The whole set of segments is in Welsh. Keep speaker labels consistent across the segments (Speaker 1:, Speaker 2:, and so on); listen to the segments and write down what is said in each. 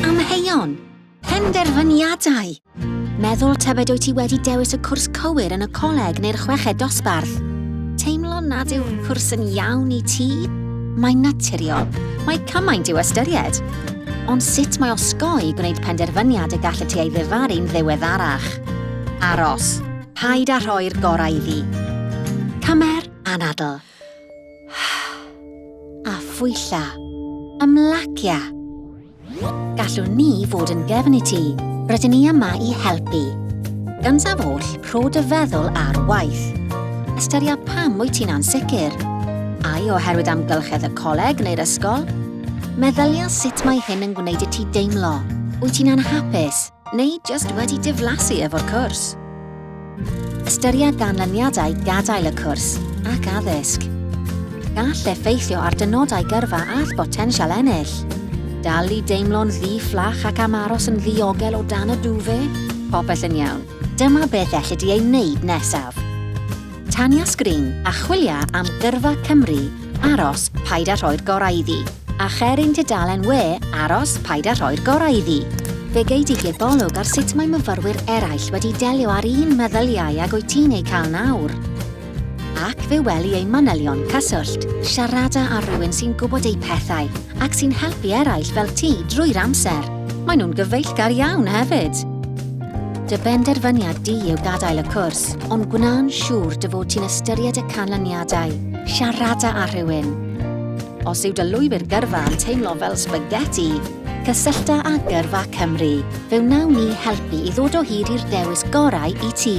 Speaker 1: Amheuon! Penderfyniadau! Meddwl tybed wyt ti wedi dewis y cwrs cywir yn y coleg neu'r chweched dosbarth? Teimlo nad yw'r cwrs yn iawn i ti? Mae'n naturiol. Mae cymaint i'w ystyried. Ond sut mae osgoi gwneud penderfyniad y gallet ti ei ddifaru'n ddiweddarach? Aros. Paid â rhoi'r gorau iddi. Cymer anadl. a phwylla, ymlacia. Gallwn ni fod yn gefn i ti, rydyn ni yma i helpu. Gyntaf oll, rho dy feddwl ar waith. Ystyria pam wyt ti'n ansicr. Ai oherwydd amgylchedd y coleg neu'r ysgol? Meddylia sut mae hyn yn gwneud i ti deimlo. Wyt ti'n anhapus? Neu jyst wedi diflasu efo'r cwrs? Ystyria ganlyniadau gadael y cwrs ac addysg. Gall effeithio ar dynodau gyrfa a'th botensial ennill. Dal i deimlo'n ddi-fflach ac am aros yn ddiogel o dan y duvet? Popeth yn iawn. Dyma beth elli di ei wneud nesaf. Tanya Sgrin a chwilia am gyrfa Cymru aros paid a rhoi'r gorau iddi. A cher ein tudalen we aros paid a rhoi'r gorau iddi. Fe gei di gebolwg ar sut mae myfyrwyr eraill wedi delio â'r un meddyliau ag wyt ti'n eu cael nawr. Ac fe weli eu manylion cyswllt. Siarada â rhywun sy'n gwybod eu pethau ac sy'n helpu eraill fel ti drwy'r amser. Maen nhw'n gyfeillgar iawn hefyd. Dy benderfyniad di yw gadael y cwrs, ond gwna'n siŵr dy fod ti'n ystyried y canlyniadau. Siarada â rhywun. Os yw dy lwybr gyrfa yn teimlo fel sbageti, cysyllta â Gyrfa Cymru. Fe wnawn ni helpu i ddod o hyd i'r dewis gorau i ti.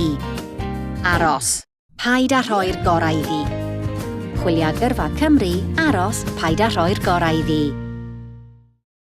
Speaker 1: Aros, paid â rhoi'r gorau iddi. Chwilia Gyrfa Cymru, aros, paid â rhoi'r gorau iddi.